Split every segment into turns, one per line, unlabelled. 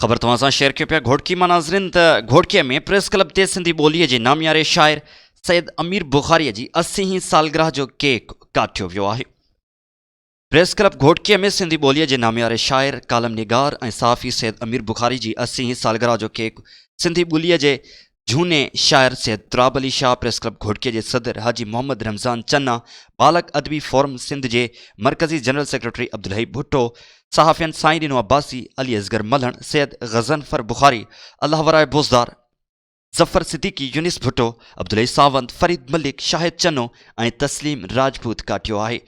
خبر توهان سان شيئر ڪيو پيا گهوٽڪي مان ناظرين ته گهوٽڪي ۾ پريس ڪلب تي سنڌي ٻولي جي نامياري شاعر سيد امير بخاري جي اسي هين سالگرهه جو ڪيڪ ڪاٽيو ويو آهي پريس ڪلب گهوٽڪي ۾ سنڌي ٻولي جي نامياري شاعر ڪالم نگار ۽ صحافي سيد امير بخاري جي اسي هين سالگرهه جو ڪيڪ سنڌي ٻولي جي جهوني شاعر سيد تراب علي شاهه پريس ڪلب گهوٽڪي جي صدر حاجي محمد رمضان چنا، بالغ ادبي فورم سنڌ جي مرڪزي جنرل سيڪريٽري عبدالحئي ڀٽو، صحافين سائين ڏنو عباسي، علي اصغر ملهڻ، سيد غضنفر بخاري، الله وراء بوزدار، ظفر صديقي، يونس ڀٽو، عبدالحئي ساوند، فريد ملڪ، شاهد چنو ۽ تسليم راجپوت ڪاٽيو آهي.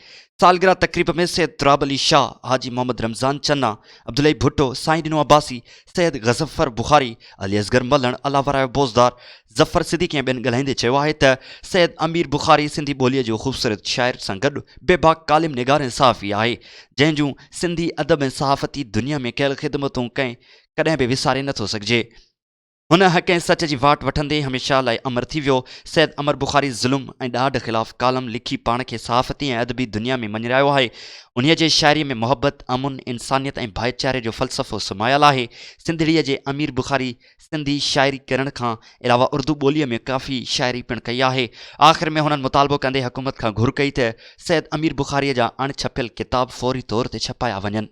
سالگرهه تقريب ۾ سيد تراب علي شاهه، حاجي محمد رمضان چنا، عبدالحئي ڀٽو، سائين ڏنو عباسي، سيد غضنفر بخاري، علي اصغر ملڻ، علاوراء بوزدار، ظفر صديقي ۽ ٻين ڳالهائيندي چيو آهي ته سيد امير بخاري سنڌي ٻوليء جو خوبصورت شاعر سان گڏ بي باڪ ڪالم نگار ۽ صحافي آهي، جنهن جون سنڌي ادب ۽ صحافتي دنيا ۾ ڪيل خدمتون ڪنهن ڪڏهن به وساري نٿو سگهجي. هن حق ۽ سچ جي واٽ وٺندي هميشه لاء امر ٿي ويو. سيد امر بخاري ظلم ۽ ڏاڍ خلاف ڪالم لکي پاڻ کي صحافتي ۽ ادبي دنيا ۾ مڃرايو آهي. انهيء جي شاعريء ۾ محبت، امن، انسانيت ۽ ڀائيچاري جو فلسفو سمايل آهي. سنڌڙيء جي امير بخاري سنڌي شاعري ڪرڻ کان علاوه اردو ٻوليء ۾ ڪافي شاعري پڻ ڪئي آهي. آخر ۾ هنن مطالبو ڪندي حڪومت کان گهر ڪئي ته سيد امير بخاريء جا اڻ ڇپيل ڪتاب فوري طور تي ڇپايا وڃن.